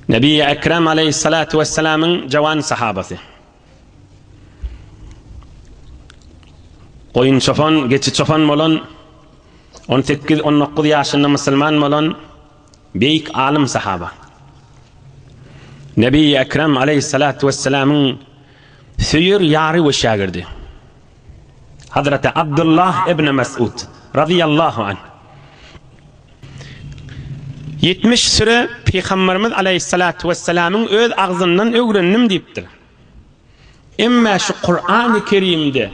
Nebi Ekrem aleýhissalatu wessalamyň jawan sahabasy. Goýun çopan, geçi çopan bolan, on sekiz, on dokuz ýaşynda musulman bolan beýik alym sahaba. Nebi Ekrem aleýhissalatu wessalamyň söýer ýary we şägirdi. Hazreti Abdullah ibn Mes'ud, razyýallahu anh, Ýetmiş süre Pygamberimiz aleýhissalatu wessalamyň öz agzyndan öwrendim diýipdir. Emma şu Kur'an-y Kerimde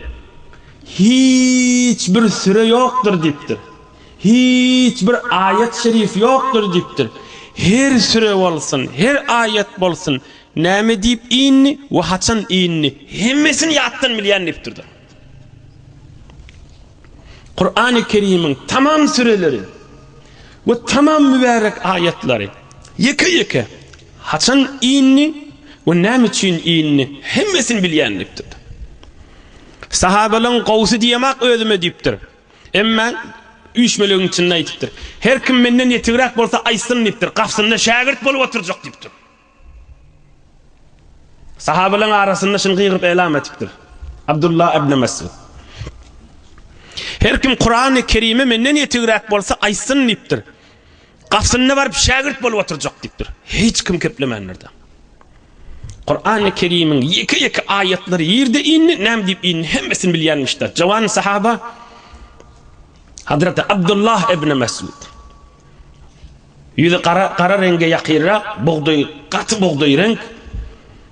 hiç bir süre ýokdur diýipdir. Hiç bir aýat-şerif ýokdur diýipdir. Her süre bolsun, her aýat bolsun Näme diýip indi we haçan indi? Hemmesini ýatdan bilýän dipdirdir. Kurany Kerimiň tamam süreleri we tamam mübärek aýatlary ýeke-ýeke haçan indi we näme üçin indi hemmesini bilýän dipdirdir. Sahabalaň gowsy diýemok özüme diýipdir. Emma üýşmelegiň içinde aýdypdyr. Her kim menden ýetigräk bolsa aýtsyn diýipdir. Gafsynda şägirt bolup oturjak diýipdir. Sahabalaryň arasynda şuny gygyryp elam etipdir. Abdullah ibn Mesud. Her kim Kurany Kerimi menden ýetigräk bolsa aýtsyn diýipdir. Gapysynda baryp şägirt bolup oturjak diýipdir. Hiç kim keplemändir-de. Kurany Kerimiň ýeke-ýeke aýatlary ýerde indi, näme diýip indi hemmesini bilýänmiş-de. Jowan sahaba Hazreti Abdullah ibn Mesud. Ýüzi gara, gara reňge ýakynrak, bugdaý, gaty bugdaý reňk,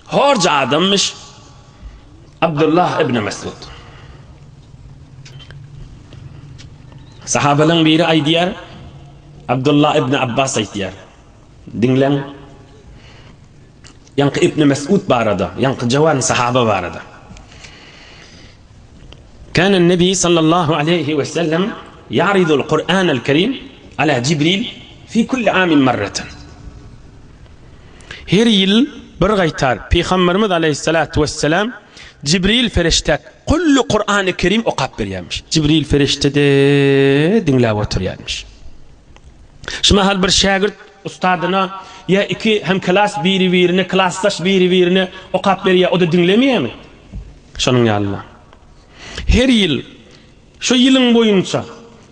horja adammyş Abdullah ibn Mesud. Sahabalaň biri aýdýar, Abdullah ibn Abbas aýtýar. Diňläň. Ýaňky Ibni Mes'ud barada, ýaňky Jawany Sahaba barada. Kânen Nebi sallallahu aleýhi we sellem ýa'ridul Kur'ânel Kerim alâ Jibril fî kulli âmin marratan. Her ýyl bir gaýtar Pygamberimiz aleýhissalatu wesselam Jibril perişdä kulli Kur'âny Kerim okap berýärmiş. Jibril perişde-de diňläp oturýarmyş. Şu mahal bir şägirt Ustadyna ýa iki hem klas biri birine klasdaş biri birine okap berýär oda diňlemeýärmi? Şonuň ýalyna her ýyl şu ýylyň boýunça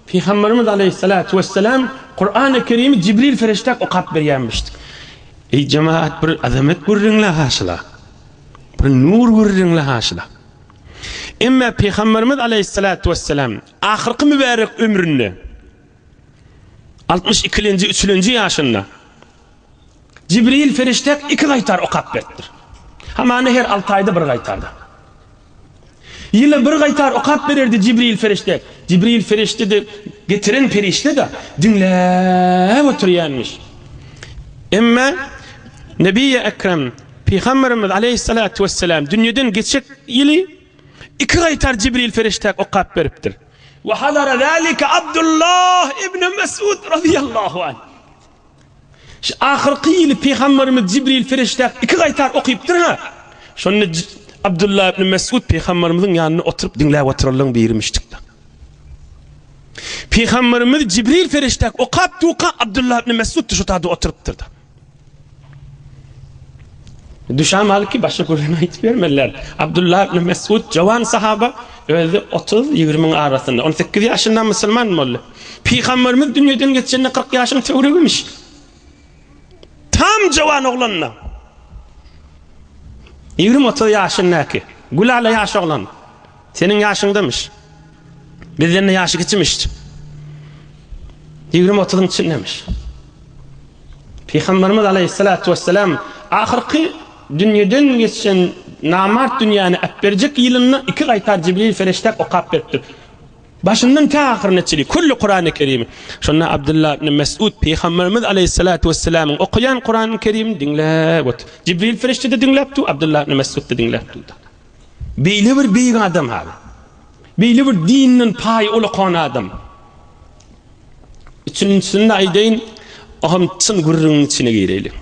Pygamberimiz aleýhissalatu wessalam Kurany kerimi Jibril ferişdäk okap berýärmişdi. Eý jemagat bir azamet gürrüňle haşyla. Bir nur gürrüňle haşyla. Emme Pygamberimiz aleýhissalatu wessalam ahyrky mübärek ömründe Altmyş ikilenji, üçlenji ýaşynda Jibril perişde iki gaýtar okap beripdir. Hamana her alty aýda bir gaýtarda. Ýyla bir gaýtar okap bererdi Jibril perişde. Jibril perişde-de getiren perişde-de diňläp oturýanmyş. Emma Nebiýi Ekrem Pygamberimiz aleýhissalatu wesselam dünýeden geçek ýyly iki gaýtar Jibril perişde okap beripdir. Wa hadara zalika Abdullah ibn Mes'ud razyýallahu anh. Şu ahyrky ýyly Pygamberimiz Jibril perişdäp iki gaýtar okypdyr-ha. Şonda Abdullah ibn Mes'ud Pygamberimiziň ýanynda oturyp diňläp oturanlaryň birimişdikde. Pygamberimiz Jibril perişdäp okap durka Abdullah ibn Mes'ud-da şo taýda oturypdyr-da. Düşäm alyp ki, başga gürrüň aýdyp bermeliler. Abdullah ibn Mesud jowan sahaba, özi otuz-ýigrimiň arasynda, on sekiz ýaşynda musulman boldy. Pygamberimiz dünýeden geçende kyrk ýaşyň töweregiymiş. Tam jowan oglanda, ýigrimi-otuz ýaşyndaky, gülala ýaş oglan, Seniň ýaşyňdamyş. Bizden-de ýaşy kiçimiş. Ýigrimi-otuzyň içindemiş. Pygamberimiz aleýhissalatu wesselam ahyrky dünýeden geçen namart dünýäni äpberjek ýylynda iki gaýtar Jibril ferişdäp okap beripdir. Başyndan tä ahyryna çenli külli Kurany Kerimi. Şonda Abdullah ibn Mes'ud pygamberimiz aleýhissalatu wesselamyň okaýan Kurany Kerimini diňläp otyr. Jibril ferişde-de diňläpdi, Abdullah ibn Mes'ud-da diňläpdi. Beýle bir beýik adam hal. Beýle bir dinden paýy ulakan adam. Üçünjisini-de aýdaýyn, o hem çyn gürrüňiň içine gireýlik.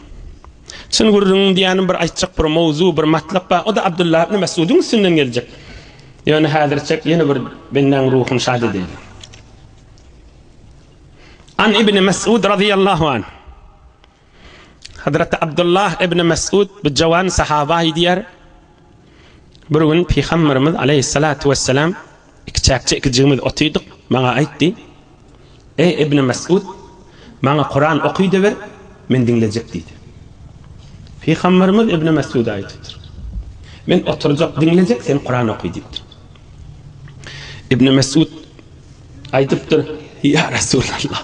Çyn gürrüňiň diýýänim bir aýtjak bir mowzu, bir matlap bar. O-da Abdullah ibn Mesgudyň üstünden geljek. Ýöne häzirçek ýene bir bendäň ruhuny şat edeýin. An ibn Mesgud razyýallahu anh. Hazreti Abdullah ibn Mes'ud bu jowan sahaba aýdýar, Bir gün Pygamberimiz aleýhissalatu wessalam ikiçäkje ikijigimiz otydyk, maňa aýtdy, Eý ibn Mes'ud, maňa Kuran okydyber, men diňlejek diýdi. Pygamberimiz ibn Mes'uda aýdypdyr, Men oturjak, diňlejek, sen Kuran oky diýipdir. Ibn Mes'ud aýdypdyr, Ýa Resulallah!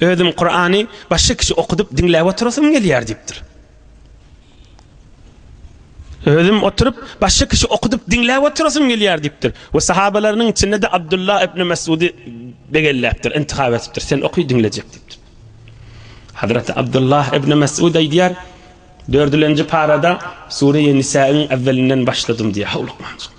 Özüm Kurany başga kişi okudyp diňläp oturasym gelýär diýipdir. Özüm oturyp başga kişi okudyp diňläp oturasym gelýär diýipdir. We sahabalarynyň içinde-de Abdullah ibn Mesudi begelläpdir, intihap etipdir. Sen oky diňlejek diýipdir. Hazreti Abdullah ibn Mesud aýdýar, Dördülenji parada Sure-i Nisaýyň äwwelinden başladym diýýär, howlukmanjyk.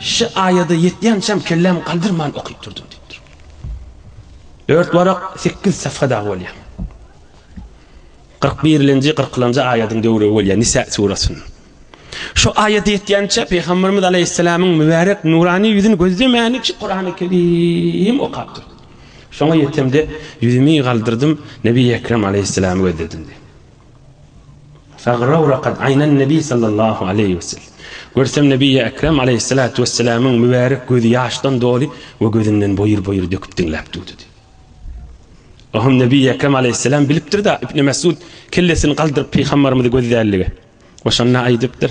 Şu aýada ýetýänçäm kellämi galdyrman okyp durdum diýipdir. Dört warak sekiz safha dagy bolýar. Kyrk birinji, kyrkynjy aýadyň döwrügi bolýar Nisa surasynyň. Şu aýada ýetýänçä Pygamberimiz aleýhissalamyň mübärek nurany ýüzüni gözlemäniçe Kurany Kerim okap durdum. Şoňa ýetemde ýüzümi galdyrdym, Nebi Ekrem aleýhissalamy gözledim diýip. Sagrawrakat Aýnan Nebi sallallahu aleýhi we sellem. Görsem Nebiýi Ekrem aleýhissalatu wessalamyň mübärek gözi ýaşdan doly we gözünden boýur-boýur döküp diňläp durdy. Ohum Nebiýi Ekrem aleýhissalam bilipdir-da, Ibni Mesud kellesini galdyryp pygambarymyzy gözlänligi we şonda aýdypdyr,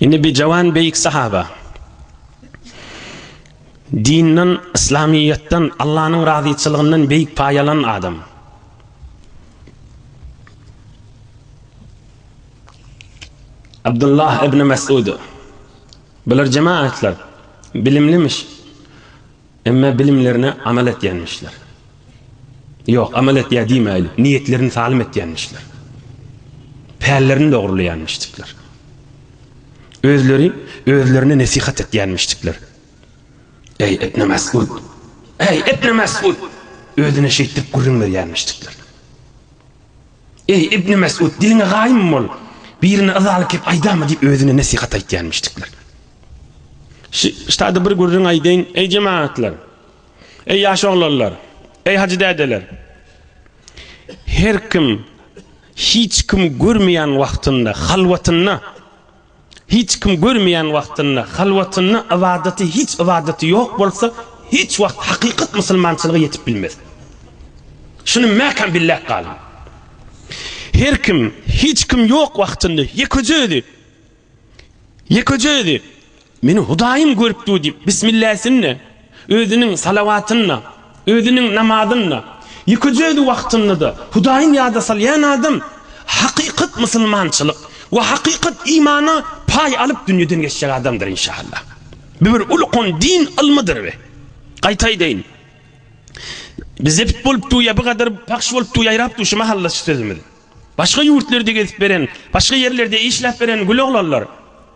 Indi bijawan beýik sahaba dinden, yslamyýetden, Allanyň razyçylygyndan beýik paý alan adam. Abdullah ibn Mesud. Bular jemaatlar bilimlimiş. Emma bilimlerine amal etýänmişler. Ýok, amal etýär diýmäýli, niýetlerini salym etýänmişler. Pällerini dogrulaýanmişdikler. Özleri özlerine nesihat etýänmişdikler. Eý, Ibn Mesud! Eý, Ibn Mesud! Özüne şeýtdirip gürrüň berýänmişdikler. Eý, Ibni Mesud, diliňe gaýym bol! Birine yzaly kep aýdama diýip özüne nesihat aýtýarmyşdyklar. Ştada bir gürrüň aýdaýyn, eý jemagatlar! Eý ýaş oglanlar! Eý hajy dädeler! Her kim hiç kim görmeýän wagtynda, halwatynda, Hiç kim görmeýän wagtynda, halwatynda ybadaty hiç ybadaty ýok bolsa, hiç wagt hakykat musulmançylyga ýetip bilmez. Şuny mäkäm billäp galyň. Her kim, hiç kim ýok wagtynda, ýekeje özi, ýekeje özi, Meni Hudaýym görüpdi diýip, bismilläsini, Özüniň salawatynda, özüniň namazynda, ýeke-jüzi wagtynda-da Hudaýyny ýada salýan adam hakykat musulmançylyk we hakykat imana paý alyp dünýeden geçjek adamdyr inşaAlla. Bu bir ulkan din ylmydyr we, gaýta aýdaýyn, zebt bolup dur ýa bu gadar pahş bolup dur ýaýrap dur şu mahal-da şu sözümiz. Başga ýurtlerde gezip beren, başga ýerlerde işläp beren güloglanlar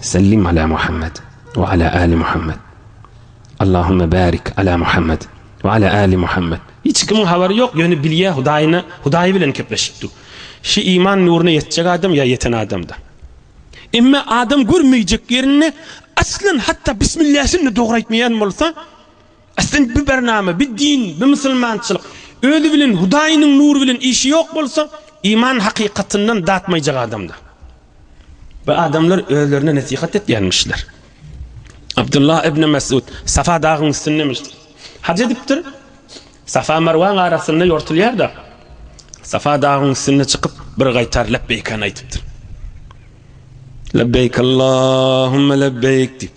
Sellim ala Muhammed ve ala ali Muhammed. Allahümme barik ala Muhammed ve ala ali Muhammed. Hiç kimin habary yok, yöne bilýä Hudaýyna, Hudaýy bilen kepleşipdi. Şu iman nuruna ýetjek adam ýa ýeten adamda. Emma adam görmeýjek ýerinde aslan hatda bismilläsin-de dogry aýtmaýan bolsa, Aslynda bu barnama, bu din, bu musulmançylyk özi bilen Hudaýynyň nury bilen işi ýok bolsa, iman hakykatyndan datmaýjak adamdyr. Bu adamlar özlerine nesihat etýänmişler. Abdullah ibn Mesud Safa dagyň üstündemişdir. Haj edipdir. Safa Marwaň arasynda ýortulýar-da, Safa dagyň üstüne çykyp, bir gaýtar lebbeýkany aýdypdyr. Lebbeýk Allahumma lebbeýk diýip.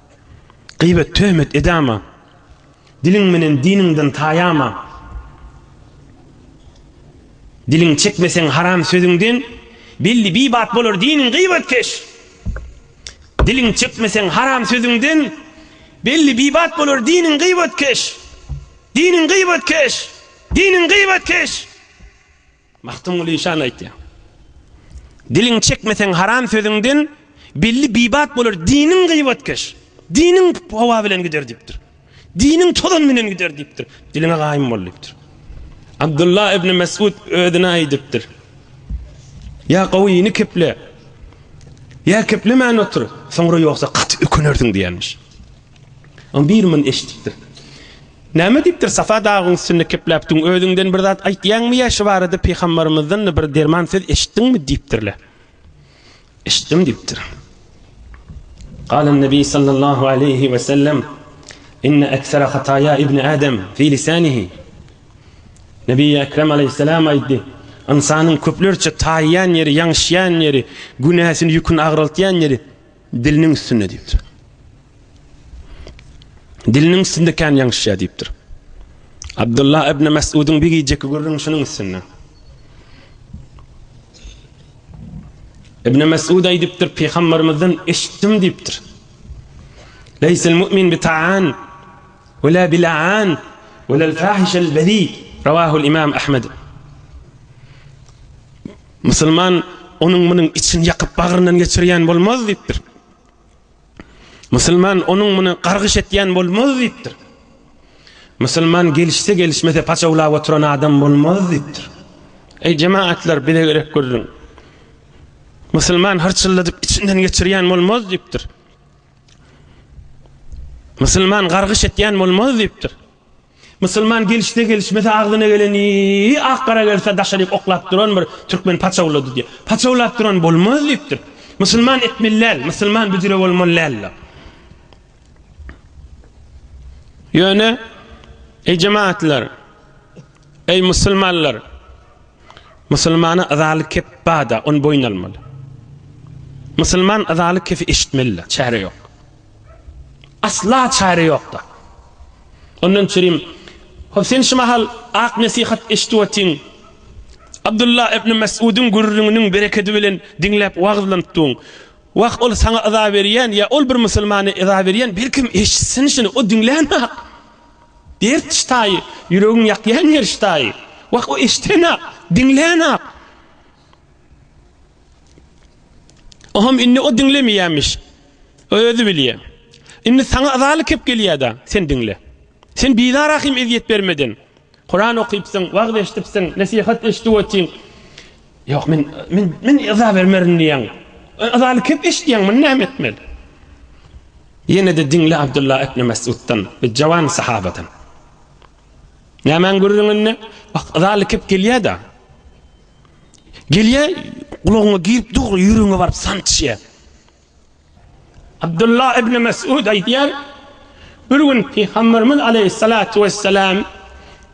Gybet, töhmet edama. Diliň menen diniňden taýama. Diliň çekmeseň haram sözüňden, belli bir bat bolar diniň gybetkeş. Diliň çekmeseň haram sözüňden, belli bir bat bolar diniň gybetkeş. Diniň gybetkeş! Diniň gybetkeş! Magtymguly işan aýtýar. Diliňi çekmeseň haram sözüňden, belli bibat bolar diniň gyýbatkeş. Diniň howa bilen gider diýipdir. Diniň tozan bilen gider diýipdir. Diliňe gaýym bol diýipdir. Abdullah ibn Mesud özüne aýdypdyr. Ýa gowyny keple. Ýa keplemän otur. Soňra ýogsa gaty ökünersiň diýenmiş. Oň biri muny eşidipdir. Näme diýipdir, Safa dagyň üstünde kepläp duň, özüňden bir zat aýtýaňmy ýa şu barada pygambarymyzdan-da bir derman söz eşitdiňmi? diýipdirler. Eşitdim diýipdir. Galan Nebi sallallahu aleýhi we sellem Inne eksere hataya ibni Adem fi lisanihi. Nebi Ekrem aleyhisselam aýtdy. Ynsanyň köplerçe taýýan ýeri, ýaňşýan ýeri, günäsini ýüküni agraltýan ýeri Diliniň üstünde diýipdir. Diliniň üstünde kän ýaňşyşýar diýipdir. Abdullah ibn Mes'udyň bir gijeki gürrüň şunuň üstünde. Ibn Mes'ud aýdypdyr, Pygamberimizden eşitdim diýipdir. Leýsel mu'min bi ta'an we la bil'an we la'l fahişel bezi. Rawahul imam Ahmed. Musulman onuň munuň içini ýakyp bagryndan geçirýän bolmaz diýipdir. Musulman onuň muny gargyş etýän bolmaz diýipdir. Musulman gelişse gelişmese paçawlap oturan adam bolmaz diýipdir. Eý jemaatlar bize gerek gürrüň. Musulman hyrçylladyp içinden geçirýän bolmaz diýipdir. Musulman gargyş etýän bolmaz diýipdir. Musulman gelişse gelişmese agzyna geleni ak gara gelse daşa diýip oklap duran bir türkmen paçawlady diýip. Paçawlap duran bolmaz diýipdir. Musulman etmeli däl, musulman büjre bolmaly däl. Ýöne eý jemagatlar, eý musulmanlar, musulmana yzaly kep bada, ony boýun almaly. Musulman yzaly kepi eşitmeli-de, çäre ýok. Asla çäre ýokda. Ondan çyrim, Hop sen şu mahal ak nesihat eşidip otyň. Abdullah ibn Mes'udyň gürrüňiniň berekedi bilen diňläp wagyzlanyp duň. Wah ol saňa yza berýän ýa ol bir musulmana yza berýän belkem eşitsin şuny o diňlänok. Dert ştaýy, ýüregiň ýakýan ýeri ştaýy. Wah o eşidänok, diňlänok. Oham indi o diňlemeýämiş. O özi bilýä. Indi saňa yzaly kep gelýä-da, sen diňle. Sen bizara kim ezýet bermeden. Kuran okypsyň, wagyz eşdipsiň, nesihat eşdip otyň. Ýok, men, men, men yza bermerin diýýäň. Yzaly kep eşidýäň, muny näme etmeli? Ýene-de diňle Abdullah ibn Mesuddan, bu jawan sahabadan. Nämäň gürrüňinde? Yzaly kep gelýä-da. Gelýä, gulagyňa girip dur, ýüregiňe baryp sançýa. Abdullah ibn Mes'ud aýdýar, Bir gün Pygamberimiz aleýhissalatu wessalam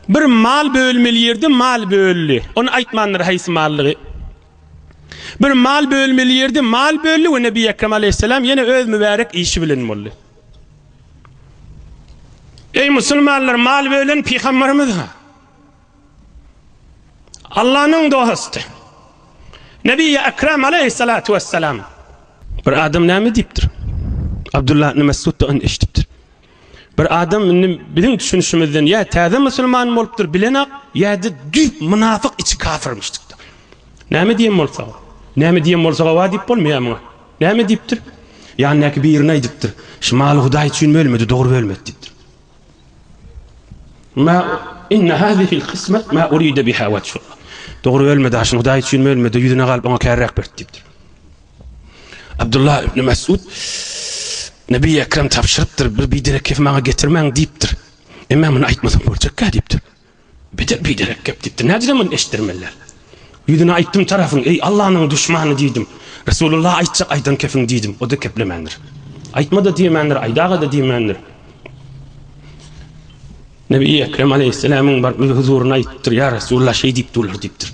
bir mal bölmeli ýerde mal böldi. Ony aýtmandyr haýsy mallygy. Bir mal bölmeli ýerde mal böldi we Nebi Ekrem aleýhissalam ýene öz mübärek işi bilen boldy. Eý musulmanlar, mal bölen Pygamberimiz-ha. Allanyň dosty, Nebi-i Ekrem aleýhissalatu wessalam, Bir adam näme diýipdir? Abdullah ibn Mesud-da ony eşidipdir. Bir adam indi biziň düşünişimizden ýa täze musulman bolupdyr, bilenak, ýa-da düýp mynafyk, içi kafyrmyşdykdyr. Näme diýen bolsa, näme diýen bolsa hawa diýip bolmaýar muňa. Näme diýipdir? Ýanyndaky birine aýdypdyr, Şu maly Hudaý üçin bölmedi, dogry bölmedi diýipdir. Ma inna hazihil kysmet ma uride biha veçhullah. Dogry bölme daşyny Hudaý üçin bölmede ýüzüne galyp oňa kärräk berdi diýipdir. Abdullah ibn Mesud Nebi Ekrem tabşyrypdyr, bir biderek kef maňa getirmäň diýipdir. Emma muny aýtmasam boljakka diýipdir. Beter biderek gep gitdi. Nädire muny eşitdirmeliler? Ýüzüne aýtdym tarapyň, eý, Allanyň duşmany diýdim. Resulullah aýtjak aýdan kepiň diýdim. O-da keplemändir. Aýtma-da diýemändir, aýdaga-da diýmändir. Nebi Ekrem aleýhisselämiň baryp öz huzuryna aýdypdyr, Ýa Resulullah şeý diýip durlar diýipdir.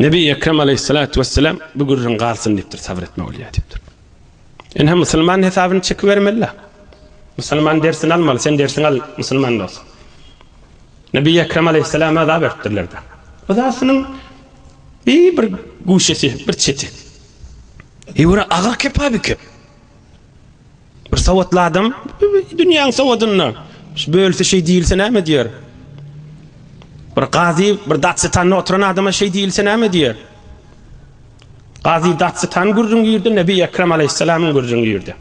Nebi Ekrem Aleyhissalatu vesselam bu gürrüň galsyn diýipdir, sabyr etme bolýar diýipdir. Ine musulman hesabyny çekibermeli. Musulman dersini almaly, sen dersiňi al musulman dost. Nebi Ekrem Aleyhissalama azap beripdirler de. Yzasynyň bir bir guşesi, bir çeti. Ýura agyr kep abi kep. Bir sowatly adam dünýäň sowadynda şu bölse şeý diýilse näme diýer? Bir gazy bir datsitanda oturan adama şeý diýilse näme diýer? Gazy datsitan gürrüň girdi, Nebi Ekrem aleýhissalamyň gürrüň girdi.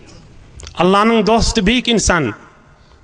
Allanyň dosty beýik insan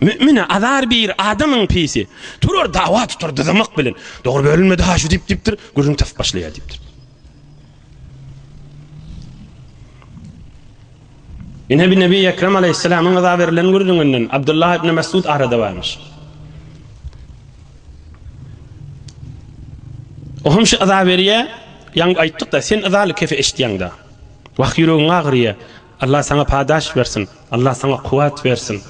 Mümine azar bir adamyň pisi. Turar dawa tutar dyzamak bilen. Dogry bölünmedi ha şu dip dipdir. Gürrüň tas başlaýar dipdir. Ine bir Nebi Ekrem aleyhisselamın gaza verilen gürrüňinden Abdullah ibn Mesud arada varmış. O hem şu aza veriye, yan ayttık da sen azalı kefe eşityan da. Vah yüreğin ağrıya, Allah saňa padaş bersin. Allah saňa kuwwat bersin.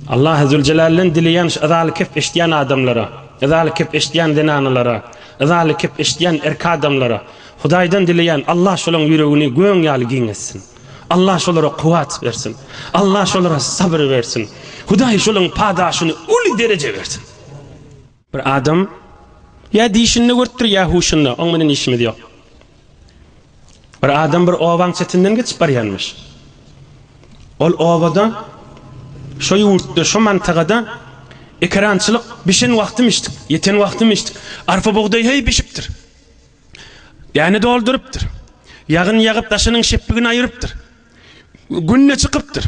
Allahy Züljelalden dileýän şu yzaly kep eşidýän adamlara, yzaly kep eşidýän zenanalara, yzaly kep eşidýän erk adamlara Hudaýdan dileýän Allah şolaň ýüregini göň ýaly giň etsin. Allah şolara kuwwat bersin. Allah şolara sabyr bersin. Hudaý şolaň padaşyny uly dereje bersin. Bir adam ýa dişinde görüpdir, ýa huşunda, oň bilen işimiz ýok. Bir adam bir obaň çetinden geçip barýanmyş. Ol obada, şo ýurtda, şo mantagada ekerançylyk bişen wagtymyşdyk, ýeten wagtymyşdyk. Arpa-bugdaý heý bişipdir. Däne doldurypdyr. Ýagyn ýagyp, daşynyň şepbigini aýyrypdyr. Gün-de çykypdyr.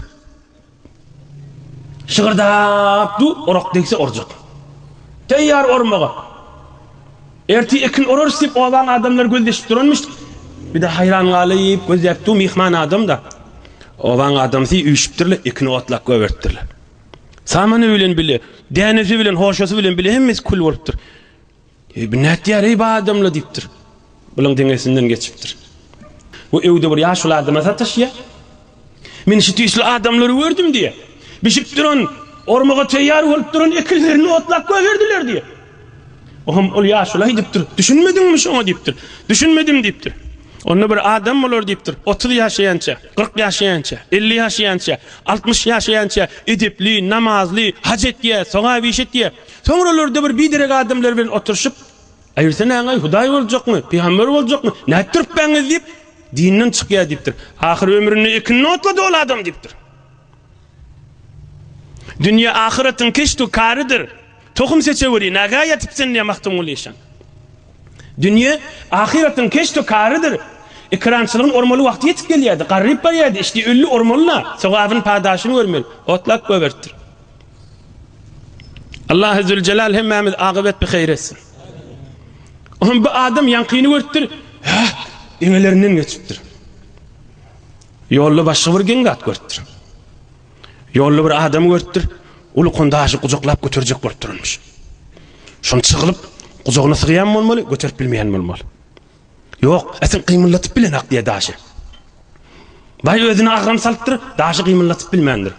Şygyrdap dur, orak degse urjak. Teýýar urmaga. Ertir ekin urarys diýip obaň adamlary gözleşip duranmyş. Bir-de haýran galyp gözläp dur, myhman adam-da. Obaň adamsy üýşüpdirler, ekini otlap goýberipdirler. Samany bilen bile, dänesi bilen, hoşasy bilen bile hemmesi kül bolupdyr. Eý, bu nätýär, eý, bu adam-la diýipdir. Bulaň deňesinden geçipdir. Bu öýde bir ýaşuly adama sataşýar. Men şu dişli adamlary gördüm diýýär. Bişip duran, ormaga teýýar bolup duran ekinlerini otlap goýberdiler diýýär. Oňam ol ýaşuly aýdyp dur. Düşünmediňmi şoňa diýipdir. Düşünmedim diýipdir. Onda bir adam bolar diýipdir. Otuz ýaşaýança, kyrk ýaşaýança, elli ýaşaýança, altmyş ýaşaýança edepli, namazly, haj etýär, sogap iş etýär. Soňralar Debir biderek adamlar bilen oturyşyp, Aýyrsanaňaý hudaý boljakmy, pygamber boljakmy, nätdiripbaňyz diýip, dinden çykýar diýipdir. Ahyr ömründe ekinini otlady ol adam diýipdir. Dünýe ahyratyň keşdu karydyr. Tohum seçeweri, nägä ýatyp sen diýýär Magtymguly işan. Dünýe ahyratyň keşdu karydyr. Ekerançylygyň ormaly wagty ýetip gelýärdi. Garryp barýardy, işdi, öldi, ormaly-la, sogabyn-padaşyny görmeli. Otlap goýberipdir. Allahy Züljelal hemmämiz agybyet bi heýr etsin. Oňa bu adam ýaňkyny görüpdir, hä, eňelerinden geçipdir. Ýolda başga bir geň zat görüpdir. Ýolda bir adamy görüpdir, ulukan daşy gujaklap göterjek bolup duranmyş. Şony çygylyp, gujagyna sygýan bolmaly, göterip bilmeýän bolmaly. Ýok, ätiň gymyldatyp bilenok diýýär daşy. Baý özüne agram salypdyr, daşy gymyldatyp bilmändir.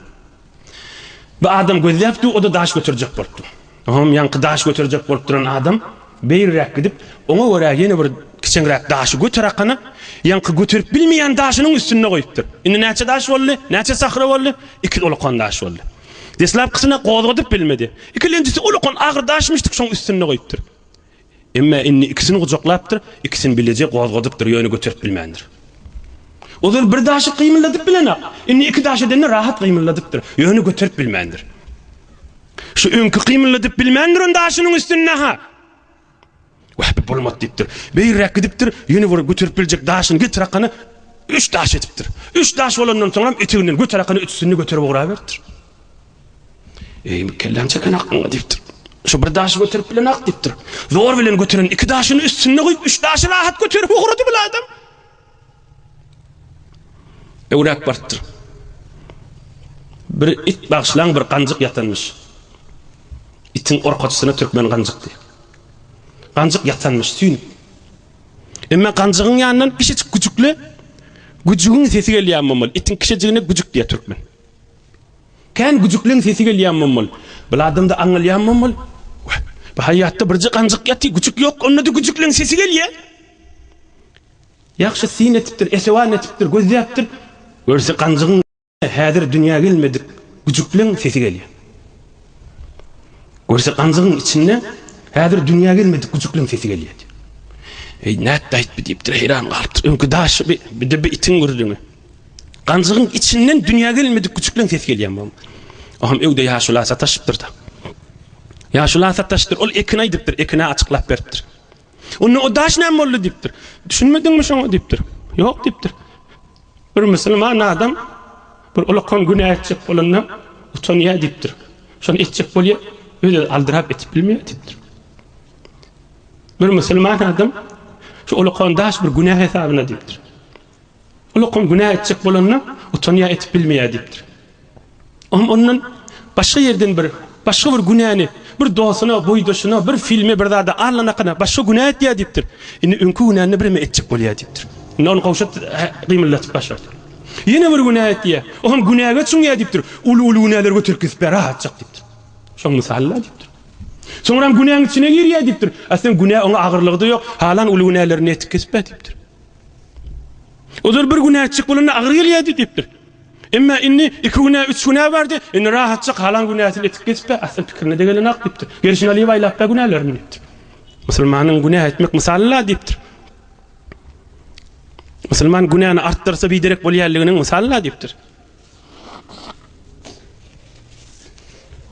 Bir adam gözläpdi, o-da daş göterjek bolupdy. Oňam ýaňky daş göterjek bolup duran adam beýriräk gidip, oňa görä ýene bir kiçeňräk daşy göterakana, ýaňky göterip bilmeýän daşynyň üstünde goýupdyr. Indi näçe daş boldy? Näçe sahra boldy? Iki ulakan daş boldy. Deslapkysyny gozgadyp bilmedi. Ikilenjisi ulakan agyr daşmyşdyk, şoň üstünde goýupdyr. Emma indi ikisini gujaklapdyr, ikisini bileje gozgadypdyr, ýöne göterip bilmändir. Ozal bir daşy gymyldadyp bilenok, indi iki daş edende rahat gymyldadypdyr, ýöne göterip bilmändir. Şu öňki gymyldadyp bilmän duran daşynyň üstünde-ha, Wah, bu bolmady diýipdir. Beýräk gidipdir, ýene bir göterip biljek daşyny getirakana, üç daş edipdir. Üç daş bolandan soňam eteginden göterakana üçüsini-de göterip ugraberipdir. Eý, kelläň çeken hakyňa diýipdir. Şu bir daşy göterip bilenok diýipdir. Zor bilen göteren iki daşyny üstünde goýup, üç daşy rahat göterip ugrady bir adam. Öwräp barypdyr. Bir it bagşylaň bir ganjyk ýatanmyş. Itiň orkaçysyna türkmen ganjykdy. Ganjyk ýatanmyş, süýnüp. Emma ganjygyň ýanyndan kiçijik güjükli güjügiň sesi gelýär, mamaly. Itiň kiçijigine güjük diýýär türkmen. Kän güjükleň sesi gelýämmem bol. Bil adamda aňalýammem bol. Wah, bu haýýatda birje ganjyk ýaty, güjük ýok, onda-da güjükleň sesi gelýä. Ýagşy syn etipdir, esewan etipdir, gözläpdir. Görse ganjygyň häzir dünýä gelmedik güjükleň sesi gelýä. Görse ganjygyň içinde häzir dünýä gelmedik güjükleň sesi gelýä. Eý, nätdi aýtby diýipdir, heýran galypdyr. Öňki daşy bi, bir-de bi itiň gürrüňi. Ganjygyň içinden dünýä gelinmedik küçükleň ses gelýär bu. Ohm öwde ýaşula sataşypdyr-da. Ýaşula sataşdyr, ol ekin aýdypdyr, ekine açyklap beripdir. Onda o daş näme boldy diýipdir. Düşünmediňmi şoňa diýipdir. Ýok diýipdir. Bir musulman adam bir ulakan günä etjek bolanda utanýar diýipdir. Şony etjek bolýar, özi aldyrap etip bilmeýär diýipdir. Bir musulman adam şu ulakan daş bir günä hesabyna diýipdir. Ol okan günä etjek bolanda utanýar etip bilmeýär diýipdir. Oňam ondan başga ýerden bir başga bir günäni bir dostuna, boýdaşyna, bir filme bir zada allanakana başga günä etýär diýipdir. Indi öňki günäni bireme etjek bolýar diýipdir. Indi ony gowşut gymyldatyp başardy. Ýene bir günä etýär. Oňam günäge çüňýär diýipdir. Uly uly günäleri göterip gidip bär atjak diýipdir. Şoň mysalynda diýipdir. Soňram günäň içine girýär diýipdir. Aslynda günä oňa agyrlygy-da ýok. Halan uly günälerini etip gidip bär diýipdir. Ozal bir günä etjek bolanda agyr gelýärdi diýipdir. Emma indi iki günä, üç günä bardy. Indi rahatjak halan günäsini etip geçip, asl pikirine-de gelenok diýipdir. Gerşini alyp aýlapda günälerini diýipdir. Musulmanyň günä etmek mysaly-la diýipdir. Musulman günäni artdyrsa biderek bolýanlygynyň mysaly-la diýipdir.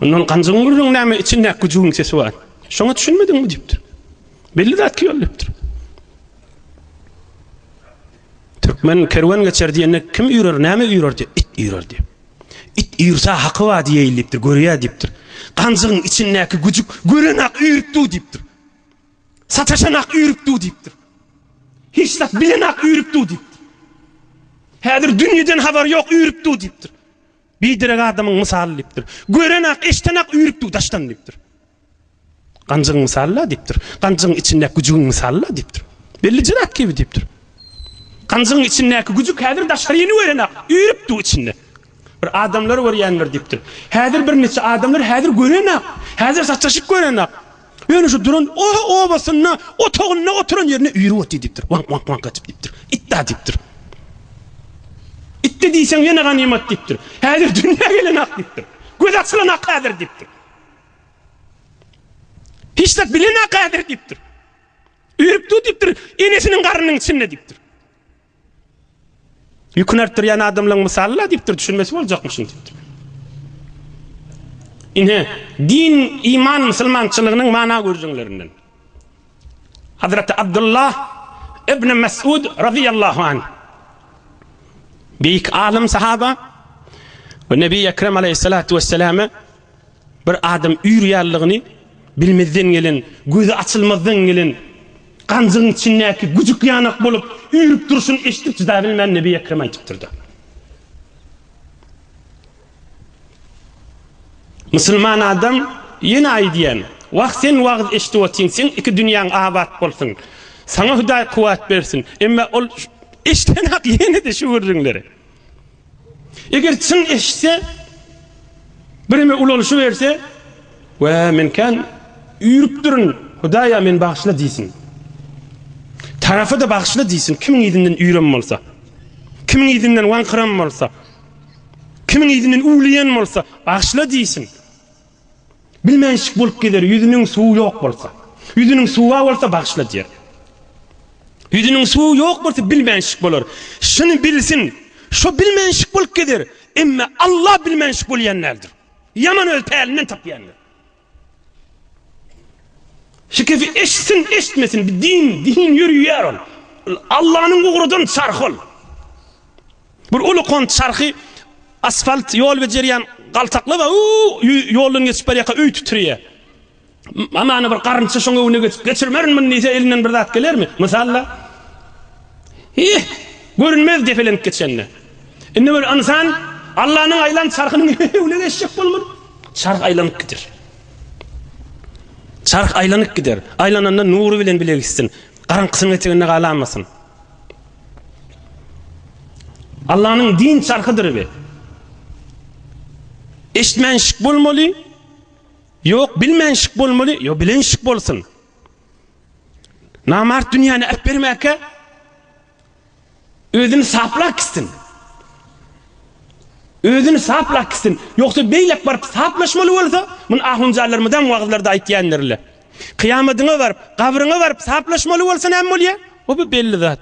Ondan ganjygyň gürrüň näme içinde güjügiň sesi bar. Şoňa düşünmediňmi diýipdir. Belli zat ki ol diýipdir. Türkmen kerwen geçer diýende kim üýrer, näme üýrer diýip, it üýrer diýip. It üýrse haky bar diýeýin diýipdir, görýä diýipdir. Ganjygyň içindäki güjük gören-ak üýrüp dur diýipdir. Sataşan-ak üýrüp dur diýipdir. Hiç zat bilen-ak üýrüp dur diýipdir. Häzir dünýeden habary ýok üýrüp dur diýipdir. Biderek adamyň mysaly diýipdir. Gören-ak, eşden-ak üýrüp dur daşdan diýipdir. Ganjygyň mysaly-la diýipdir. Ganjygyň içindäki güjügiň mysaly-la diýipdir. Bellije zat kibi diýipdir. Ganjygyň içindäki güjük häzir daşary ýeni görenok, üýrüpdi içinde. Bir adamlary görýändir diýipdir. Häzir birnäçe adamlary häzir görenok. Häzir saçaşyk görenok. Ýöne şu duran obasynda, otagynda oturan ýerinde üýrüp otdy diýipdir. Waňk waňk waňk edip diýipdir. Itda diýipdir. Itde diýseň ýene ganymat diýipdir. Häzir dünýä gelenok diýipdir. Göz açylanok häzir diýipdir. Hiç zat bilemok häzir diýipdir. Örüp dur diýipdir, enesiniň garnynyň içinde diýipdir. Ýüküni artdyrýan adamlaryň mysaly-la diýipdir, düşünmesi boljakmyşyn diýipdir. Ine, din, iman musulmançylygynyň mana gürrüňlerinden. Hazreti Abdullah ibn Mes'ud razyýallahu anh, beýik alym sahaba we Nebi Ekrem aleýhissalatu wesselame, Bir adam üýr ýalylygyny bilmezden gelen, gözi açylmazdan gelen ganjygyň içindäki güjük ýanak bolup üýrüp durşuny eşidip çydabilmän Nebi Ekrem aýdypdyrda. Musulman adam ýene aýdýan, Wah sen wagyz eşidip otyň, seň iki dünýäň abat bolsun, saňa Hudaý kuwwat bersin, emma ol eşdenok ýene-de şu gürrüňleri. Eger çyn eşitse, bireme ulalyşyberse, Wä, men kän üýrüpdirin, Hudaý-a, meni bagyşla diýsin. Tarapy-da bagyşla diýsin, kimiň yzyndan üýrem bolsa, kimiň yzyndan waňkyram bolsa, kimiň yzyndan üwleýen bolsa, bagyşla diýsin. Bilmänşik bolup gezer ýüzüniň suwy ýok bolsa. Ýüzüniň suwa bolsa bagyşla diýer. Ýüzüniň suwy ýok bolsa bilmänşik bolar. Şuny bilsin, şo bilmänşik bolup gezer, emme Alla bilmänşik bolýan däldir. Ýaman öz pälinden tapýandyr. Şikesi eşitsin, eşitmesin, bi din, din ýörüýär ol. Ol Allanyň ugradan çarhy ol. Bir uly kont çarhy asfalt ýol bejerýän galtaklaba ýoldan geçip barýarka öý titirýär. Hamana bir garynça şoň öňüne geçip, geçirmerin muny diýse elinden bir zat gelermi? Mysal-da. Hih, görünmez depelenip geçende. Indi bir ynsan Allanyň aýlan çarhynyň öňüne geçjek bolmur. Çarh aýlanyp gider. Çarh aýlanyp gider. Aýlananda nury bilen bile gitsin. Garaňkysynyň eteginde galamasyn. Allanyň din çarhydyr bi. Eşitmän şik bolmaly. Ýok, bilmän şik bolmaly. Ýok, bilen şik bolsun. Namart dünýäni äp bermäkä özüni saplak gitsin. Özüni saplak gitsin. Ýoksa beýlek baryp saplaşmaly bolsa, muny ahunjallarymyzam wagyzlarda aýtýandyr-la. Kyýamadyňa baryp, gabryňa baryp saplaşmaly bolsa näme bolýa? O-bu belli zat.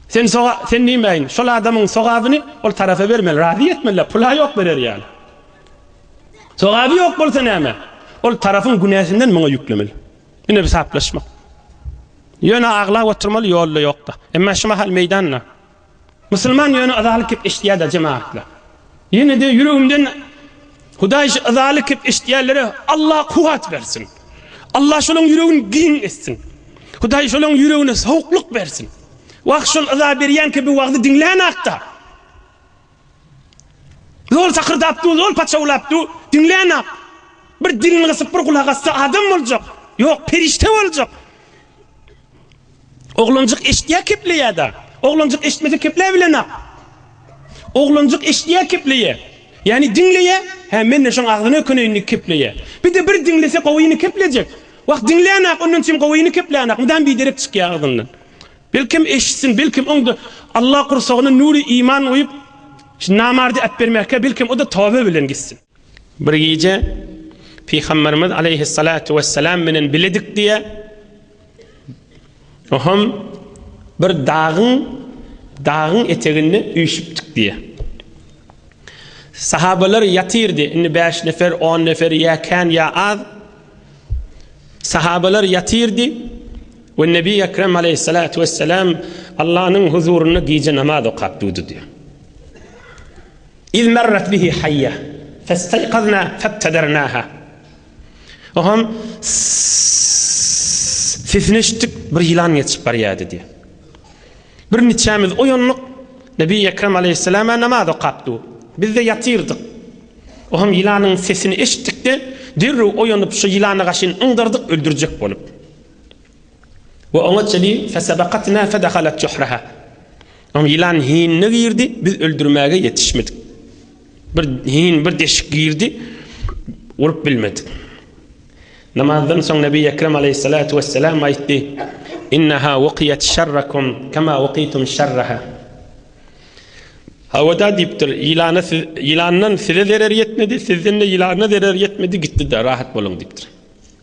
Sen soga, sen diýmäýin, şol adamyň sogabyny ol tarapa bermeli, razy etmeli, pul-a ýok berer ýaly. Sogaby ýok bolsa näme? Ol tarapyň günäsinden muňa ýüklemeli. Ine bir saplaşmak. Ýöne aglap oturmaly ýolda ýokda. Emma şu mahal meýdanda. Musulman ýöne yzaly kep eşitýäda jemaatlar. Ýenede ýüregimden Hudaý şu yzaly kep eşitýänlere Allah kuwwat bersin. Allah şolaň ýüregini giň etsin. Hudaý şolaň ýüregine sowuklyk bersin. Wah şol yza berýän kepi wagzy diňlänakda. Zol sakyrdap dur, zol paçawlap dur, diňlänak. Bir dilini gysyp bir gulak assa adam boljak. Ýok, perişde boljak. Oglanjyk eşitýär kepleýär-de. Oglanjyk eşitmese kepläp bilenok. Oglanjyk eşitýär kepleýär. Ýagny diňleýär, hä men-de şoň agzyny ökeneýin diýip kepleýär. Bir-de bir diňlese gowyny keplejek. Wah diňlänok ondan çem gowyny keplänok, mydam biderek çykýar agzyndan. Belkem eşitsin, belkem oňda Alla gursagyna nury iman guýup namardy äpbermäkä belkem o-da toba bilen gitsin. Bir gije Pygamberimiz aleýhissalatu wessalam bilen biledik diýýär. Oham bir dagyň dagyň eteginde üýşüpdik diýýär. Sahabalar ýatyrdy. Indi 5 nefer, 10 nefer ýa kän ýa az. Sahabalar ýatyrdy. We Nebi Ekrem aleýhissalatu wessalam Allah'ın huzurunda gije namaz okap durdy diýýär. Iz merret bihi haýýa, festaýkazna febtedernaha. Ohan sesini eşitdik, bir ýylan geçip barýardy diýýär. Bir niçämiz oýandyk, Nebi Ekrem aleýhissalama namaz okap dur. Bizde ýatyrdyk. Ohan ýylanyň sesini eşitdik-de, derrew oýanyp, şu ýylany gaşyn yňdardyk öldürjek bolup. We oňa çeli, fesebakatna fedehalet juhraha. Oň ýylan hinine girdi, biz öldürmäge ýetişmedik. Bir hin bir deşik girdi, urup bilmedik. Namazdan soň Nebi Ekrem aleyhissalatu vesselam aýtdy: Innaha waqiyat şerrakum kama waqitum şerraha. Hawada diýipdir, ýylana siz ýylandan size zerer ýetmedi, sizden de ýylana zerer ýetmedi, gitdi-de, rahat boluň diýipdir.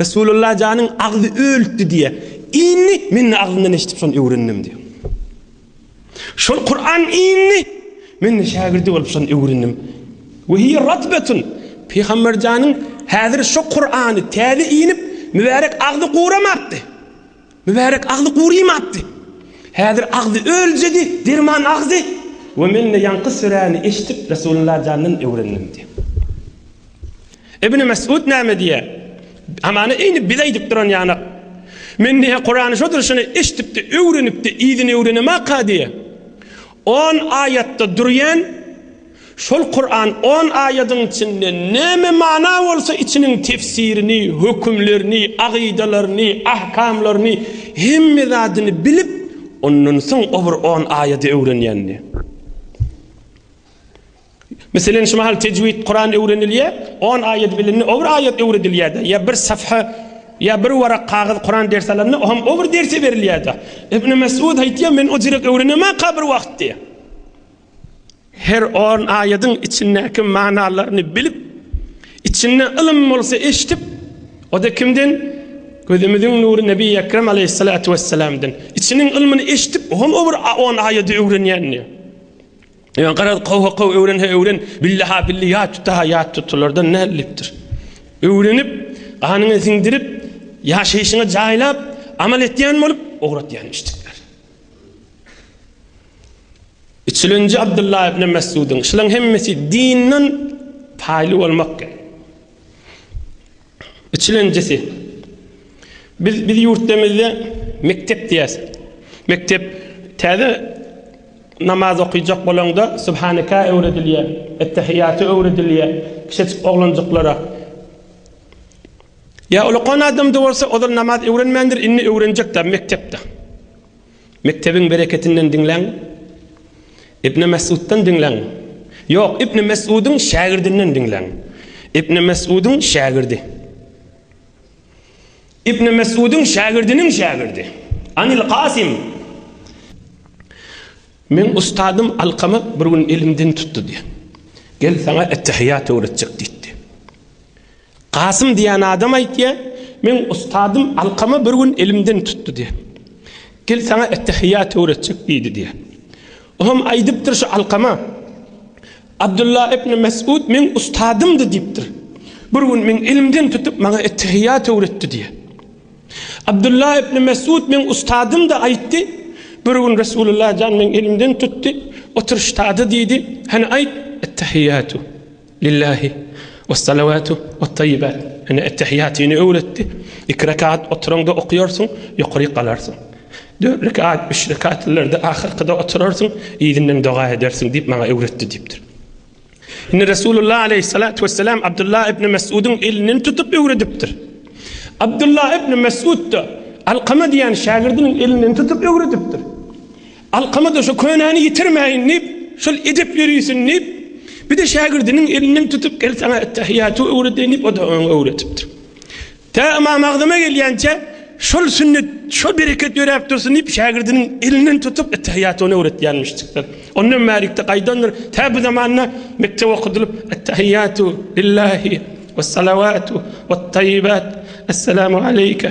Resulullah janyň agzy ölüpdi diýýär. Indi men agzyndan eşidip şony öwrendim diýýär. Şol Kur'an indi men de şägirdi bolup şony öwrendim. Ve hiye ratbetun. Peygamber janyň häzir şu Kur'any täze inip mübarek agzy guramapdy. Mübärek agzy gurymapdy. Häzir agzy öljedi, derman agzy we men-de ýaňky süräni eşidip Resulullah jandan öwrendim diýýär. Ibn Mes'ud näme diýýär? Hamana eýni biz aýdyp duran ýanak. Men diýýär Kurany şo durşuna eşidip-de, öwrenip-de, yzyny öwrenemaka diýýär. On aýatda durýan Şol Kuran on aýadyň içinde näme mana bolsa içiniň tefsirini, hökümlerini, agydalaryny, ahkamlaryny, hemme zadyny bilip, ondan soň o bir on aýady öwrenýändi. Meselen şu mahal tejwid Kuran öwrenilýär, on aýady bilindi, o bir aýat öwredilýärdi. Ýa bir safha, ýa bir warak kagyz Kuran ders alanda, o hem o bir dersi berilýärdi. Ibn Mesud aýtýar, men o jürek öwrenemaka bir wagt diýýär. Her on aýadyň içindäki manalaryny bilip, içinde ylym bolsa eşidip, o-da kimden? Gözümiziň nury Nebi Ekrem aleýhissalatu wessalamdan. Içiniň ylmyny eşidip, o hem o bir on aýady öwrenýän diýýär. Ýöne garaz, gowy-gowy öwren-hä öwren, billi-hä billi, ýat tut-hä ýat tut, olardan näldipdir. Öwrenip, ganyňa siňdirip, ýaşaýşyňa jaýlap, amal etýän bolup, ugratýan müşdikler. Üçülinji Abdullah ibn Messudyň, Şulaň hemmesi dinden paýly bolmakdyr. Üçülinjisi, Biz biz ýurtdemizde mekdep diýäs. Mekdep täze namaz okyjak bolaňda Subhanaka öwredilýär, Ettehiýaty öwredilýär, kiçejik oglanjyklara. Ýa ulakan adamda bolsa ozal namaz öwrenmändir, indi öwrenjek-de mekdepde. Mekdebiň bereketinden diňläň, Ibni Mesuddan diňläň, ýok, Ibni Mesudyň şägirdinden diňläň, Ibni Mesudyň şägirdi, Ibni Mesudyň şägirdiniň şägirdi, Anil Kasim. Meň ustadym Alkama bir gün elimden tutdy-da, Gel, saňa ettehiýat öwretjek diýdi. Kasym diýen adam aýtýar, Meň ustadym Alkama bir gün elimden tutdy diýär. Gel saňa ettehiýat öwretjek diýdi diýär. O hem aýdypdyr şu Alkama, Abdullah ibn Mes'ud meň ustadymdy diýipdir. Bir gün meň elimden tutup maňa ettehiýat öwretdi diýär. Abdullah ibn Mes'ud meň ustadymdy aýtdy. Bir gün Resulullah jan meň elimden tutdy, otur ştada diýdi, hany aýt, ettehiýatu. Lillahi wessalawatu wettayyibat, ine ettehiýatyny öwretdi, iki rekat oturaňda okaýarsyň, ýokaryk galarsyň. Dört rekat, üç rekatlylarda ahyrkyda oturarsyň, yzyndan doga edersiň diýip maňa öwretdi diýipdir. Indi Resulullah aleýhissalatu wessalam Abdullah ibn Mes'udyň elinden tutup öwredipdir. Abdullah ibn Mes'ud-da Alkama diýen şägirdiniň elinden tutup öwredipdir. Alkama-da şu könäni ýitirmäýin diýip, şol edep ýörisin diýip, bir-de şägirdiniň elinden tutup, Gel, saňa ettehiýaty öwredeýin diýip, o-da oňa öwredipdir. Tä Ymam Agzama gelýänçä, şol sünnet, şol bereket ýöräp dursun diýip, şägirdiniň elinden tutup, ettehiýaty ony öwretýänmişjikler. Ondan bärikde gaýdandyr, tä bu zamanda mekdep okudylyp, ettehiýatu lillahi, wessalawatu, wetdaýibat, essalamu aleýke,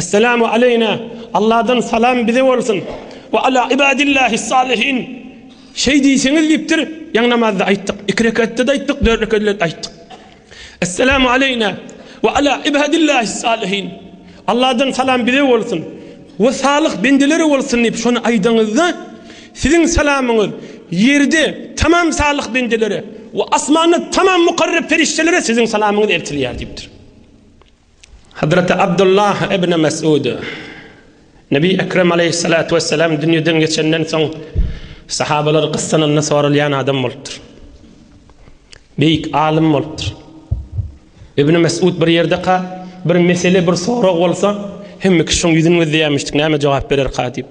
Esselamu aleýna, Alladan salam bize bolsun, we ala ibadillahis salihin, şeý diýseňiz diýipdir, ýaňy namazda aýtdyk, iki rekatda-da aýtdyk, dört rekatda-da aýtdyk. Esselamu aleýna, we ala ibadillahis salihin, Alladan salam bize bolsun, we salyh bendelere bolsun diýip şony aýdanyňyzda, siziň salamyňyz ýerde tamam salyh bendelere we asmanda tamam mukarrep perişdelere siziň salamyňyz eltilýär diýipdir. Hazreti Abdullah ibn Mes'ud, Nebi Ekrem aleýhyssalatu wessalam dünýeden geçenden soň sahabalary gyssananda soralýan adam bolupdyr. Beýik alym bolupdyr. Ibn Mes'ud bir ýerdeka bir mesele, bir sorag bolsa, hemme kişiň ýüzüni gözleýärmişdik, näme jogap bererka diýip.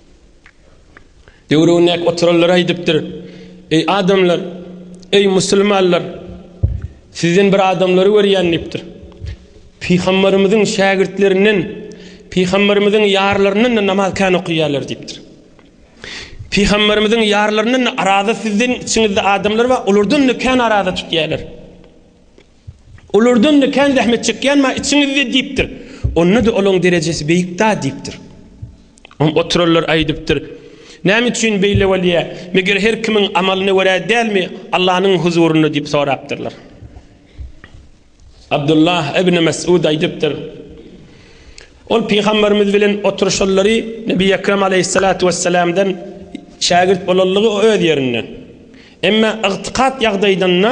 Döwründäki oturanlar aýdypdyr, Eý adamlar, eý musulmanlar, sizden bir adamlary görýän diýipdir. Pygamberimiziň şägirtlerinden, pygamberimiziň ýarlaryndan namaz kän okaýarlar diýipdir. Pygamberimiziň ýarlaryndan araza sizden içiňizde adamlar bar, olardan kän araza tutýarlar. Olardan-da kän zähmet çekýänm-ä içiňizde diýipdir. Onda-da olaň derejesi beýik-dä diýipdir. Oňa oturanlar aýdypdyr, Näme üçin beýle bolýar? Meger her kimiň amalyna görä dälmi Allanyň huzurynda diýip sorapdyrlar. Abdullah ibn Mes'ud aýdypdyr, Ol pygamberimiz bilen oturyşanlary Nebi Ekrem aleýhissalatu wessalamdan şägirt bolanlygy öz ýerinde. Emma ygtykat ýagdaýdynda.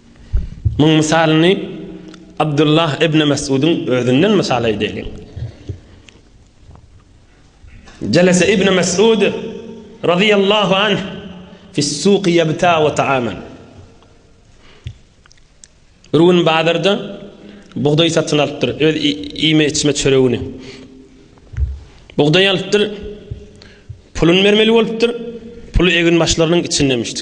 Muň mysalyny Abdullah ibn Mes'udyň özünden mysal edeliň. Jalasa ibn Mes'ud radiyallahu anh fis-suq yabta wa ta'aman. Run bazarda bugdaý satyn alypdyr, öz iýme içme çöregini. Bugdaý alypdyr, pulun bermeli bolupdyr, pulu egin başlarynyň içindemişdi.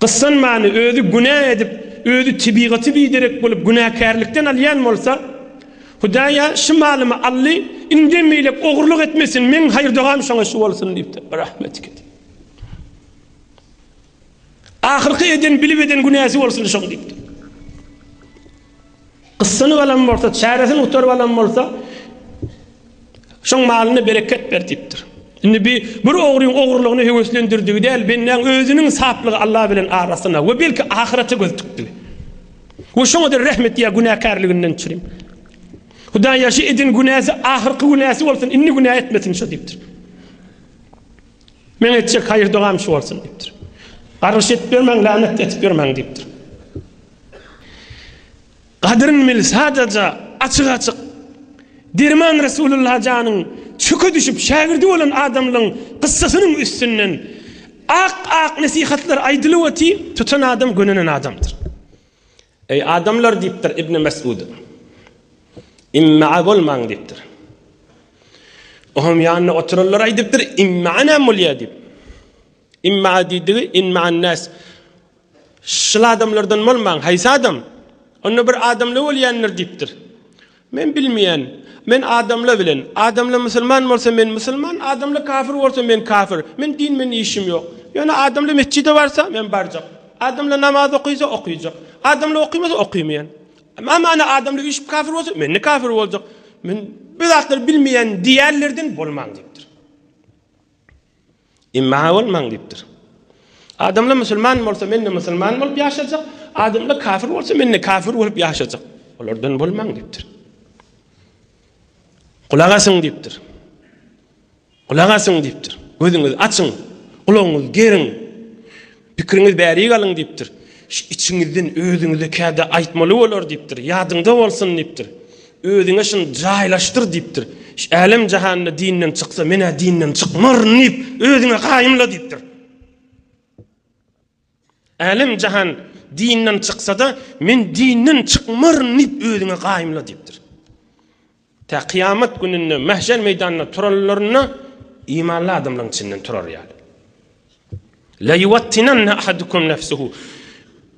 Gyssanmany özi günä edip, özi tebigaty biderek bolup günäkärlikden alýan bolsa, Hudaýa şu malymy aldy, indem beýlek ogurlyk etmesin, meň haýyr-dogam şoňa şu bolsun diýipdir. Rahmetlik edip. Ahyrky eden bilip eden günäsi bolsun şoň diýipdir. Gyssanyp alan bolsa, çäresini gutaryp alan bolsa, şoň malyna bereket ber diýipdir. Indi bi bir ogryň ogurlygyny höweslendirdigi däl, bendäň özüniň saplygy Allah bilen arasyna we belki ahyrete göz tikdigi. We şoňa-da rehm et ýa günäkärliginden düşürin. Hudaý ýa şu eden günäsi ahyrky günäsi bolsun, indi günä etmesin şu diýipdir. Men etjek haýyr-dogam şu bolsun diýipdir. Gargyş edip ýörmäň, lanet edip ýörmäň diýipdir. Gadyryn bil sadaja açyk-açyk. Derman Resulullah janyň çöke düşüp şägirdi bolan adamlyň gyssasynyň üstünden ak-ak nesihatlar aýdylyp otyr, tutan adam gönenen adamdyr. Eý adamlar diýipdir Ibni Mesud. Immaa bolmaň diýipdir. Oňam ýanynda oturanlar aýdypdyr, Immaa näme bolýar diýip. Immaa diýdigi, inmaan nas. Şul adamlardan bolmaň, haýsy adam? Onda bir adamla bolýandyr diýipdir. Men bilmeýän. Men adamla bilen. Adamla musulman bolsa men musulman, adamla kafir bolsa men kafir. Men din bilen işim ýok. Ýöne adamla metjide barsa, men barjak. Adamla namaz okysa, okyjak. Adamla okymasa, okymaýan. Many adamla üýşüp kafir bolsa, men-de kafir boljak. Men bu zatlary bilmeýän diýýänlerden bolmaň diýipdir. Imma bolmaň diýipdir. Adamlar musulman bolsa, men-de musulman bolup ýaşajak, adamlar kafir bolsa, men-de kafir bolup ýaşajak. Olardan bolmaň diýipdir. Gulak asyň diýipdir. Gulak asyň diýipdir. Gözüňizi açyň, gulagyňyzy geriň. Pikiriňiz bärik alyň diýipdir. Içiňizden özüňize käde aýtmaly bolar diýipdir. Ýadyňda bolsun diýipdir. Özüňe şuny jaýlaşdyr diýipdir. Şu älem-jahanda dinden çyksa, men-ä dinden çykmaryn diýip, özüňe gaýymla diýipdir. Älem-jahan dinden çyksa-da, men dinden çykmaryn diýip, özüňe gaýymla diýipdir. Tä kyýamat gününde mähşer meýdanynda turanlarynda imanly adamlaryň içinden turar ýaly. La yuwattinanna ahadukum nefsuhu.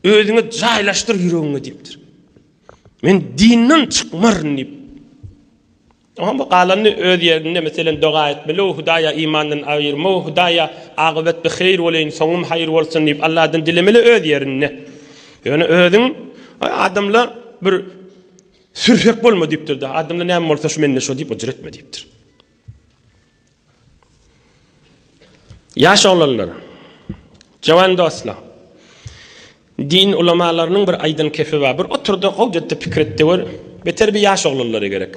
Özüňe jaýlaşdyr ýüregiňe diýipdir. Men dinden çykmaryn diýip. Oňa bu galany öz ýerinde meselem doga etmeli, o Hudaýa imandan aýyrma, o Hudaýa agybat bi haýyr boleýin, soňum haýyr bolsun diýip Allahdan dilemeli öz ýerinde. Ýöne özüň adamlar bir Sürsek bolma diýipdir da, adamda näme bolsa şu mende şo diýip ujyr etme diýipdir. Ýaş oglanlar, jawan dostlar, din ulamalarynyň bir aýdan kepi bar, bir otur-da, gowja etde pikir et-de gör, beter bir ýaş oglanlara gerek.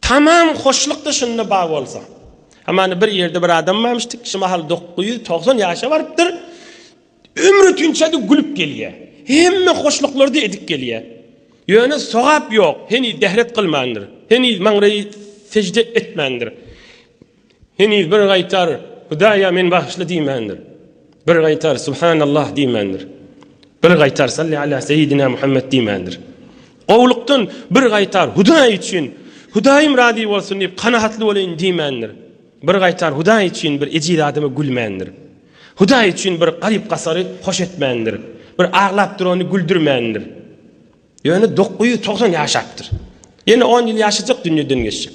Tamam hoşlukda şunda bar bolsa. Hamana bir ýerde bir adam barmyşdyk, şu mahal dokuz ýüz togsan ýaşa barypdyr. Ömri tünçedi gülüp gelýär. Hemme hoşluklary-da edip gelýär. Ýöne sogap ýok, heniz dehret kylmandyr, heniz maňraýy sejde etmändir. Heniz bir gaýtar Hudaýa men bagyşly diýmändir. Bir gaýtar Subhanallah diýmändir. Bir gaýtar Salli ala seýidina Muhammet diýmändir. Gowlukdan bir gaýtar Hudaý üçin, Hudaýym razy bolsun diýip kanagatly bolaýyn diýmändir. Bir gaýtar Hudaý üçin bir ejiz adama gülmändir. Hudaý üçin bir garyp-gasary hoş etmändir. Bir aglap durany güldürmändir. Ýöne dokuz ýüz togsan ýaşapdyr. Ýene on ýyl ýaşajak dünýeden geçjek.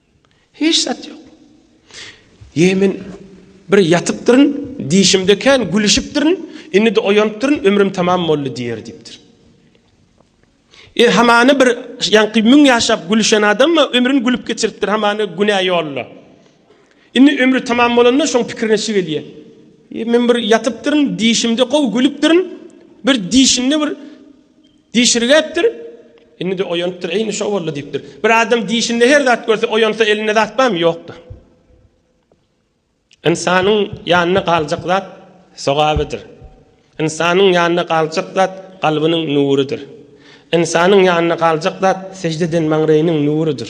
Hiç zat ýok. Ýe men bir ýatypdyryn, dişimde kän gülüşipdirin, indi-de oýanypdyryn, ömrüm tamam boldy diýer diýipdir. E hamany bir ýaňky müň ýaşap gülüşen adam-a ömrüni gülüp geçiripdir, hamany günä ýolda. Indi ömri tamam bolanda şoň pikirine şu gelýär. E men bir ýatypdyryn, dişimde gowy gülüpdirin, bir dişinde bir Dişirgäpdir. Indi-de oýanypdyr. Eýni şo boldy diýipdir. Bir adam dişinde her zat görse, oýansa elinde zat barmy? Ýokdur. Ynsanyň ýanyna galjak zat sogabydyr. Ynsanyň ýanyna galjak zat kalbynyň nurudyr. Ynsanyň ýanyna galjak zat sežde eden maňraýynyň nurudyr.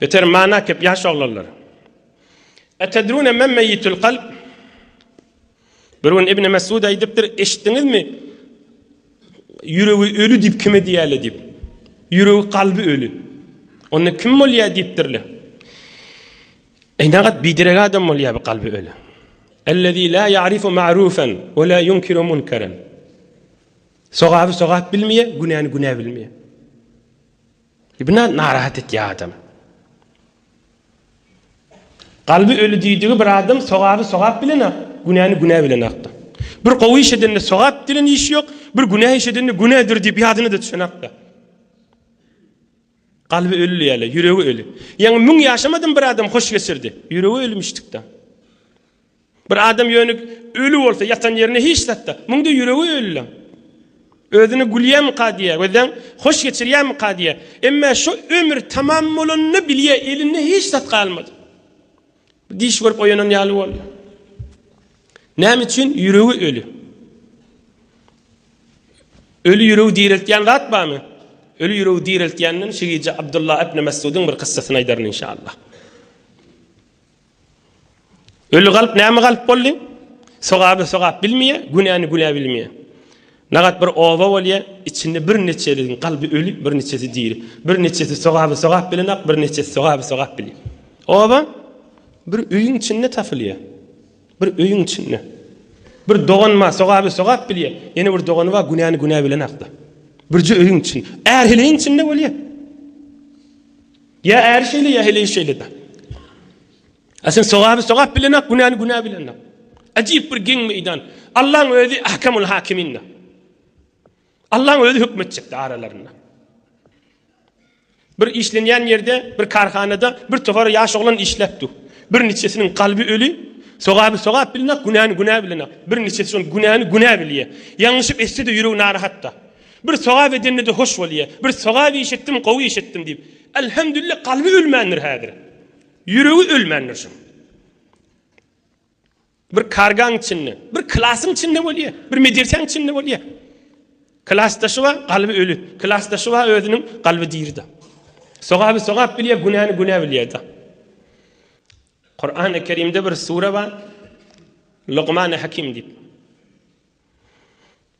Beter many äkep ýaş oglanlar. Etedrune men meýitul kalb? Bir gün Ibn Mesud aýdypdyr, eşitdiňizmi? Ýüregi öli diýip kime diýýärler diýip. Ýüregi kalby öli. Onda kim bolýar diýipdirler. Eýnagat bidirek adam bolýar bu kalby öli. Ellezî lâ ya'rifu ma'rûfen ve lâ yunkiru munkeren. Sogaby sogap bilmeýär, günäni günä bilmeýär. Ibna narahat etýä adam. Galby öli diýdigi bir adam sogaby sogap bilen ak, günäni günä bilen akda. Bir gowy iş edende sogap dilen iş ýok, bir günä iş edende günädir diýip ýadyna da düşen akda. Galby öli ýaly, ýüregi öli. Ýaňy müň ýaşamadym bir adam hoş geçirdi. Ýüregi ölmüşdikda. Bir adam ýöne öli bolsa, ýatan ýerinde hiç zatda, muňda ýüregi ölüleň özüne gülýärmika diýýär, gözleň hoş geçirýärmika diýýär. Emma şu ömür tamam bolanyny bilýär, elinde hiç zat galmady. Diş görüp oýanan ýaly bolýar. Näme üçin ýüregi öli? Öli ýüregi direltýän zat barmy? Öli ýüregi direltýänden şu gije Abdullah ibn Mesudun bir kyssasyny aýdaryn inşallah. Öli galp näme galp boldy? Sogaby sogap bilmeýär, günäni günä bilmeýär. Nagat bir oba bolýar, içinde birniçeleriň galby öli, birniçesi diri. Birniçesi sogaby sogap bilenok, birniçesi sogaby sogap bilýär. Oba bir öýüň içinde tapylýar. Bir öýüň içinde. Bir dogan bar, sogaby sogap bilýär. Ýene bir dogany bar, günäni günä bilenok-da. Birje öýüň içinde. Är heleýiň içinde bolýar. Ýa äri şeýle, ýa heleýi şeýle-dä. A sen sogaby sogap bilen ak, günäni günä bilen ak. Ajaýyp bir geň meýdan. Allaň özi Ahkamul Hakimin-dä. Allaň özi höküm etjek-dä aralarynda. Bir işlenýän ýerde, bir karhanada bir topar ýaş oglan işläp dur. Bir niçesiniň kalby öli, sogaby sogap bilen ak, günäni günä bilen ak. Bir niçesi şol günäni günä bilýär. Ýalňyşyp etse-de ýüregi narahat-da. Bir sogap edende-de hoş bolýa. Bir sogap iş etdim, gowy iş etdim diýip. Elhemdülillah kalby ölmändir häzir. Ýüregi ölmändir şuň. Bir kargaň içinde, bir klasyň içinde bolýa, bir medresäň içinde bolýa. Klasdaşy bar, kalby öli. Klasdaşy bar, özüniň kalby diri-de. Sogaby sogap bilýär, günäni günä bilýär-de. Kur'an-ı Kerim'de bir sure var. Lokman-ı Hakim deyip.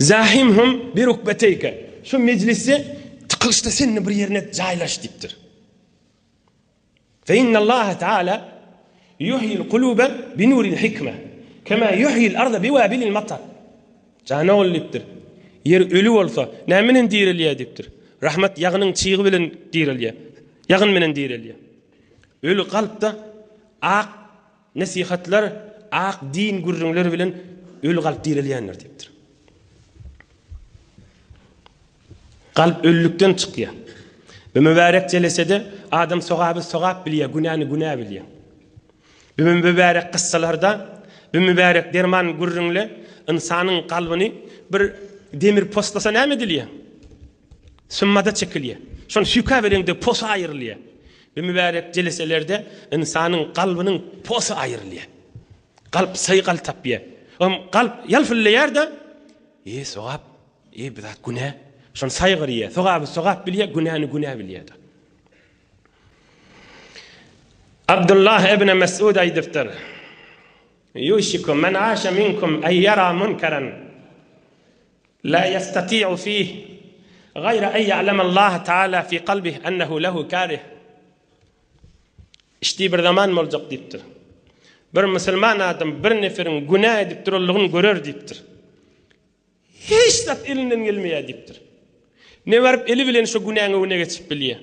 Zahym hum bi rukbeteyke, şu mejlisde tykylyşda sen-de bir ýerine jaýlaş diýipdir. Fe innallaha taala yuhyil kulube bi nuril hikme, kema yuhyil arda bi wabilil matar. Jan ogul diýipdir. Ýer öli bolsa, näme bilen direlýär diýipdir. Rahmat ýagynyň çygy bilen direlýär. Ýagyn bilen direlýär. Öli kalpda ak Nesihatlar ak din gürrüňler bilen öli kalp direlýändir diýipdir. Kalp ölülikden çykýar. Bu mübärek jelesede adam sogaby sogap bilýär, günäni günä bilýär. Bu mübärek kyssalarda, bu mübärek derman gürrüňle ynsanyň kalbyny bir demir poslasa näme edilýär? Symmada çekilýär. Şol süýke bereňde posa aýrylýar. Bu mübärek jeleselerde ynsanyň kalbynyň posy aýrylýar. Kalp syýgal tapýar. Oňam kalp ýalpyldaýar-da, Eý, sogap, eý, bu zat günä. Şony saýgarýar. Sogaby sogap bilýär, günäni günä bilýär. Abdullah ibn Mesud aýdypdyr, Ýuşiku men aşa minkum eý ýara munkaran. Lâ ýestati'u fîh gaýra en ýa'lemallâhe teâlâ fî kalbih ennehu lehu kârih. Iş diý bir zaman boljak diýipdir. Bir musulman adam bir neferiň günä edip duranlygyny görer diýipdir. Hiç zat elinden gelmeýär diýipdir. Ne baryp eli bilen şo günäň öňüne geçip bilýär.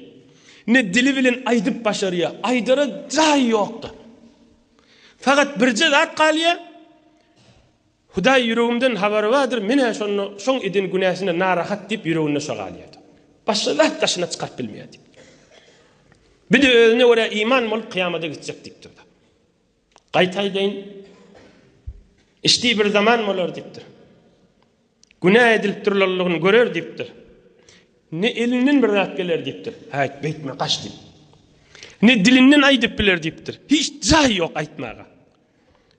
Ne dili bilen aýdyp başarýar. Aýdara jaýy ýokdur. Fakat birje zat galýar. Hudaý ýüregimden habary bardyr, men-ä şonda şoň eden günäsine narahat diýip ýüreginde şo galýardy. Başga zat daşyna çykaryp bilmeýärdi. Bir-de özüne görä iman bolup kyýamada gitjek diýip durdy. Gaýtaýdaýyn, işdi bir zaman bolar diýipdir. Günä edilip durlanlygyny görer diýipdir. Ne elinden bir zat geler diýipdir. Häýt, beýtme, gaç diýip. Ne dilinden aýdyp biler diýipdir. Hiç jaý ýok aýtmaga.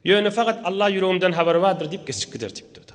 Ýöne fakat Alla ýüregimden habary bardyr diýip geçip gider diýipdir.